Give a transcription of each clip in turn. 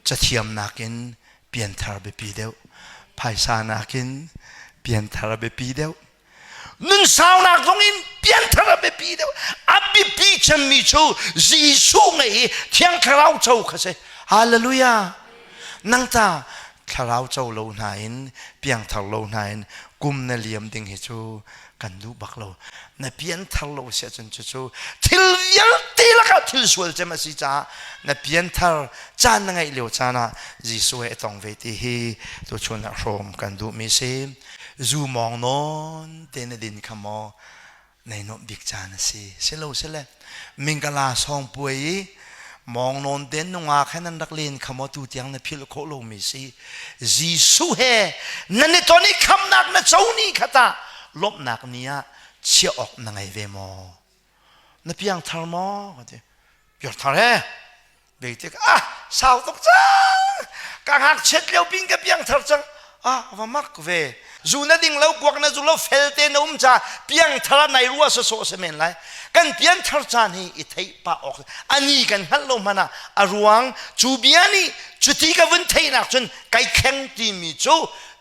cathiam nakin pianthar biapi deuh phaisa nakin pianthar a biapi deuh nunsaunak zong in pianthar a biapi deuh a biapi cemmi cu jesuh ngei hi thiang thlarau co kha si hallelujah nang ta thlarau co lo hna in piangthar lo hna in kum na liam ding hi cu kan duh bak lo na pian thar lo si ahcun cucu thil vialte lakah thil sual cem a si caah na pian thar caan na ngeih lio caan ah Jesuh he i tong ve ti hi tu chun ah hrom kan duhmi si zu mawng nawn te na din kha maw nei nuamh bik caan a si si lo si le Mingala sawng puai i mawng nawn den nungak he nan rak len kha maw tu tiang na philh khawh lomi si Jesuh he nan i ton i khamnak na co ni kha ta lawmhnak ni ah chiah awk na ngei ve maw na piang thar maw ka ti piang thar he Bei tik ah sau tuk cang ka ngakchiat lio pin ka piangthar cang ah va mak ve zu na ding lo kuak na zu lo fel te na um ca piangthar nai rua so so se men lai kan pianthar caan hi i thei pa ok ani kan hngal lo mana a ruang cu bia ni cuti ka vun theinak cun kai kheng ti mi cu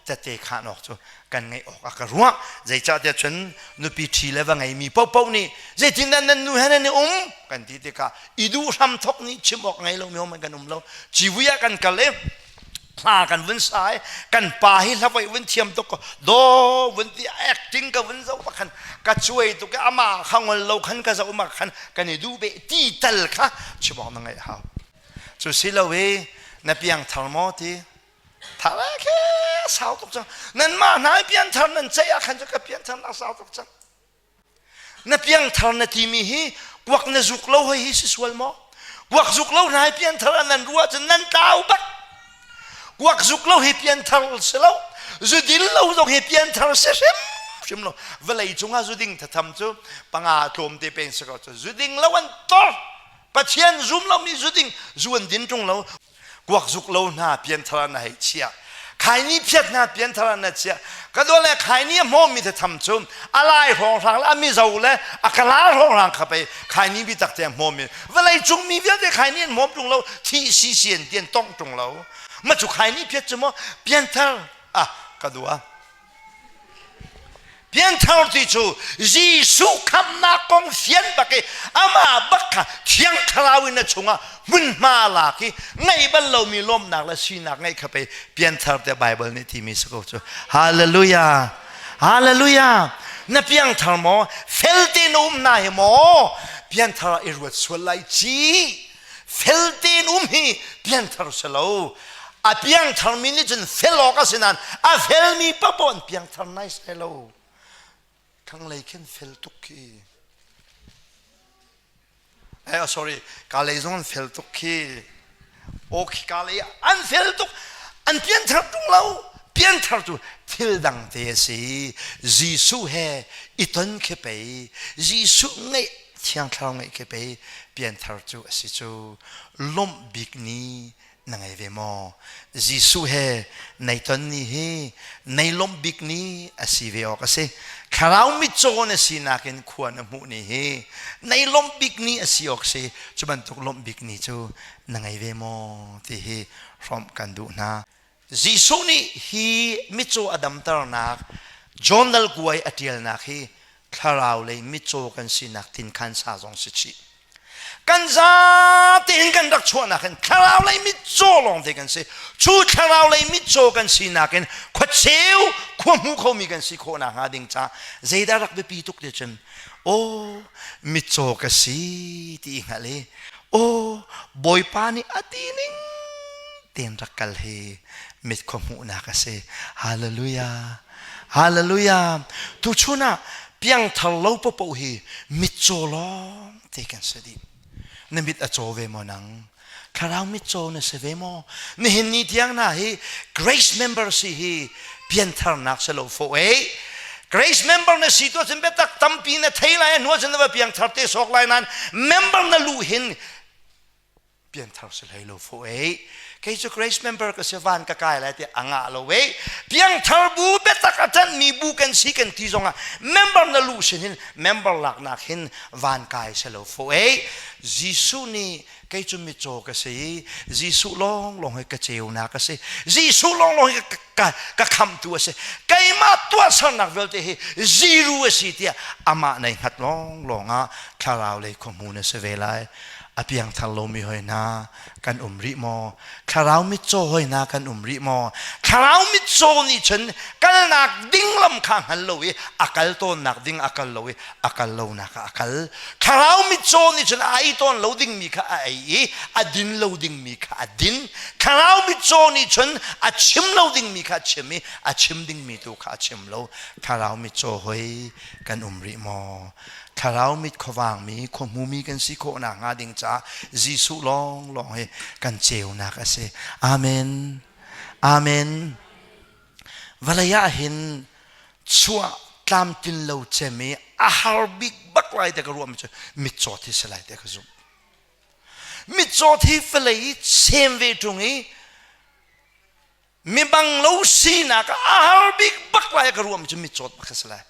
tete khan ok cu kan ngeih awk a ka ruah zeicahtiah cun nupi ṭhi le va ngeimi paohpaoh nih zeitindah nan nu he nan i um kan ti tikah i duh hram thawk nih chim awk ngei lomi hom kan um lo ciwi ah kan kal i hla kan vun sa i kan pa hi hlavoi vun thiam tuk do vun ti acting ka vun zo pakhan ka chuai tuk ama khangol lo khan ka zo ma khan kan i du be ti tal kha chimawk na ngai hau cu si lo e na piang thar maw ti thar ah khe sau tuk cang nanmah hna pianthar nan ceih ah khan cu ka pianthar sau tuk cang na piangthar na timi hi puak na zuk lo hoi hi si sual maw kuak zuk lo hnai pianthar ah nan ruah cun nan tlau bak kuak zuk lo hi pianthar si lo zudin lo zong hi pianthar si hrim hrim lo vawlei cungah zuding thatham cu panga tlawm te peng si ko cu zuding lo an tor pathian zum lo mi zuding zuan din tung lo kuakzuk lo hna pianthar ah na hei chiah khaini phiat hna pianthar ah na chiah ka dawt le khaini a hmawmmi thatham cu a lai hrawnghrang le a mizo le a kalar hrawnghrang kha pei khaini bi tak te a hmawmmi vawlei cungmi vialte khaini an hmawm ṭung lo thi si si an ti an tong ṭung lo ma cu khaini phiat cu maw pianthar ah ka dua Pianthar ti cu Jesuh khamnak kong fian bak i amah bak kha thiang thlarau in a chungah hmunhma lak i ngaih bal lomi lawmnak le sinak ngeih kha pei pianthar tiah Baibal nih timi si ko cu. Hallelujah! Hallelujah! Na piangthar maw? Fel tein na um na hi maw? Pianthar i ruat sual lai ci fel tein um hi piangthar si lo a piangthar mi nih cun fel awk a si nain a felmi papaw in piangthar nai sai lo thlanglei khin fel tuk khi eh, oh, sorry ka lei zong an fel tuk khi o khi ka lei an fel tuk an pianthar tung lo pianthar tu thil dang te si Jesuh he i ton khi pei Jesuh ngeih Thiang Thlarau ngeih ka pei pianthar cu a si cu, lawmh bik ni na ngei ve maw? Jesuh he nei ton ni hi nei lawmh bik ni a si ve awk a si. Thlarau mitcaw na sinak in khua na hmuh ni hi nei lawmh bik ni a si awk si, cu bantuk lawmh bik ni cu na ngei ve maw? ti hi hrawmh kan duh hna. Jesuh nih hi mitcaw a damternak John dal kuai a ṭialnak hi thlarau lei mitcaw kan sinak tin khan sa zong si chih. Kan zate in kan rak chuahnak in thlarau lei mitcaw lawng te kan si. Cu thlarau lei mitcaw kan sinak in khuacheu khuahmu khomi kan si khawh nak hnga ding ca zeidah rak biapi tuk te cun aw mitcaw ka si ti i hngalh i aw Bawipa nih a ti ning tiin rak kal hi mit khuahmuhnak a si. Hallelujah! Hallelujah! Tuchun ah piangthar lo popoh hi mitcaw lawng te kan si dih. Na mit a caw ve maw nang? Thlarau mitcaw na si ve maw? Nihin ni tiang hna hi grace member si hi piantharnak si lo fo ei. Grace member na si tu ahcun biatak tampi na thei lai, a hnuah cun na va piangthar te sawk lai nain member na luh hin pianthar si hlei lo fo ei kei cu grace member ka si van ka kai lai ti anga lo ei piangthar bu biatak a tan mi bu kan si kan ti zong ah member na lu sin hin member lak nak hin van kai se lo fo ei Jesuh ni kei cu mitcaw ka si Jesuh long long hi ka ceu na ka si Jesuh long long hi ka ka, ka khamtu a si keimah tuahsernak vialte hi ziru a si tiah amah nei hngat lawnglawng ah thlarau lei khuamu na si ve lai a piangthar lomi hoi hna kan um rih maw thlarau mitcaw hoi hna kan um rih maw thlarau mitcaw nih cun kalnak ding lam kha hngal lo i a kal tawnnak ding a kal lo i a kal lonak ah a kal thlarau mitcaw nih cun a ei tawn lo dingmi kha a ei i a din lo dingmi kha a din thlarau mitcaw nih cun a chim lo dingmi kha a chim i a chim dingmi tu kha a chim lo thlarau mitcaw hoi kan um rih maw thlarau mit khuavangmi khuahmumi kan si khawhnak hnga ding caah Jesuh lawnglawng hi kan ceunak a si amen amen Vawlei ah hin chuah tlamtlin lo cem i a har bik bak lai te ka ruah mi cu mitcaw thi si lai te ka zumh. Mitcaw thi vawlei i sem ve ṭung i mi bang lo sinak a har bik bak lai ka ruah mi cu mitcaw bak si lai.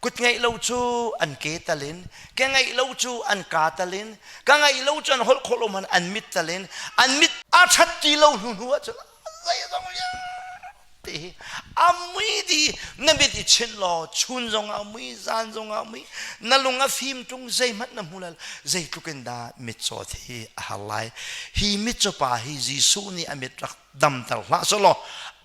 Kut ngeih lo cu an ke talin, ka ngeih lo cu an ka talin, ka ngeih lo cu an holh khawh lo man an mit talin, an mit a ṭhat ti lo hnu hnu ahcun zeizong vialte hi a mui di na mit i chinh law chun zong a mui zan zong a mui na lung a fim ṭung zeihmanh na hmu lal zeitluk in dah mitcaw hi a har lai hi mitcaw pa hi Jesuh nih a mit rak damter hlah sawh law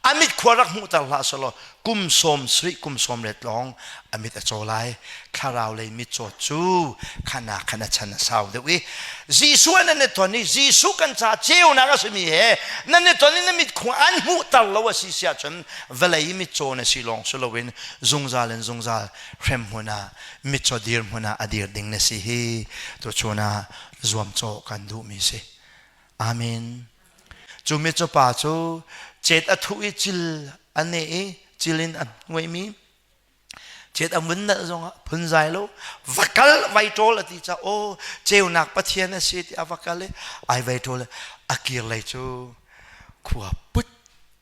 a mit khua rak hmuhter hlah sawh law kum sawm sui kum sawm let lawng a mit a caw lai thlarau lei mit caw cu khana khan a chan a sau deuh i Jesuh an ne ton i Jesuh kan ca ceunak a simi he nan ne ton i na mit khua an hmuhter lo a si siah cun vawlei i mit caw na si lawng si loin zungzal in zungzal hrem hmun ah mit caw dir hmun ah a dir ding na si hi tu chun ah zuam caw kan duhmi si amen Cu micupa cu cet a thuh i cil a neh i cil in an nguaihmi cet a mun nalh zongah phunzai lo va kal vai ṭawl a ti caah aw ceunak pathian a si tiah a va kal i ai vai ṭawl a kir lei cu khua put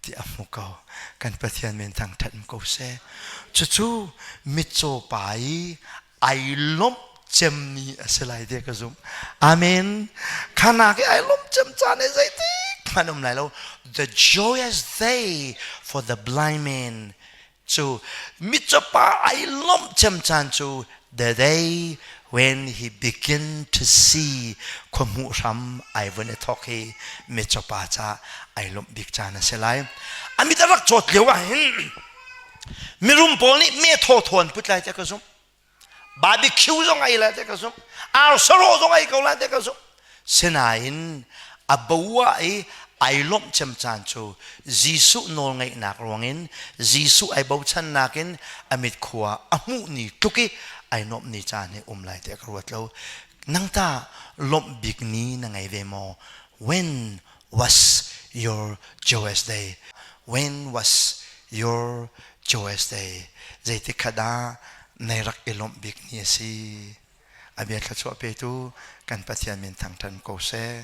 tiah a hmu ko kan pathian men thang ṭhat ko seh cucu mitcaw pa i ai lomh cemmi a si lai te ka zumh amen khanak i ai lomh cem caan i zeitik hmanh um lai lo the joyous day for the blind man cu mitcawpa ai lomh cem caan cu the day when he begin to see khuamuh hram ai vun i thok hi mitcawpa ca ai lomh bik caan a si lai amit a rak cawt lio ah hin Mirum pawl nih me thaw thawn put lai te ka zumh. Barbecue zong ai lai te ka zumh. Arsaro zong ai ko lai te ka zumh. Sinain a boa i ai lawmh cem caan cu Jesuh nawlngeihnak ruangin Jesuh ai bochannak in a mit khua a hmuh ni tluk i ai nuamh ni caan hi um lai te ka ruat lo. Nang ta lawmh bik ni na ngei ve maw? When was your joyous day? When was your joyous day? Zeitik khat ah nei rak i lawmh bik ni a si. A bia thluachuah petu kan Pathian min thangṭhan ko seh.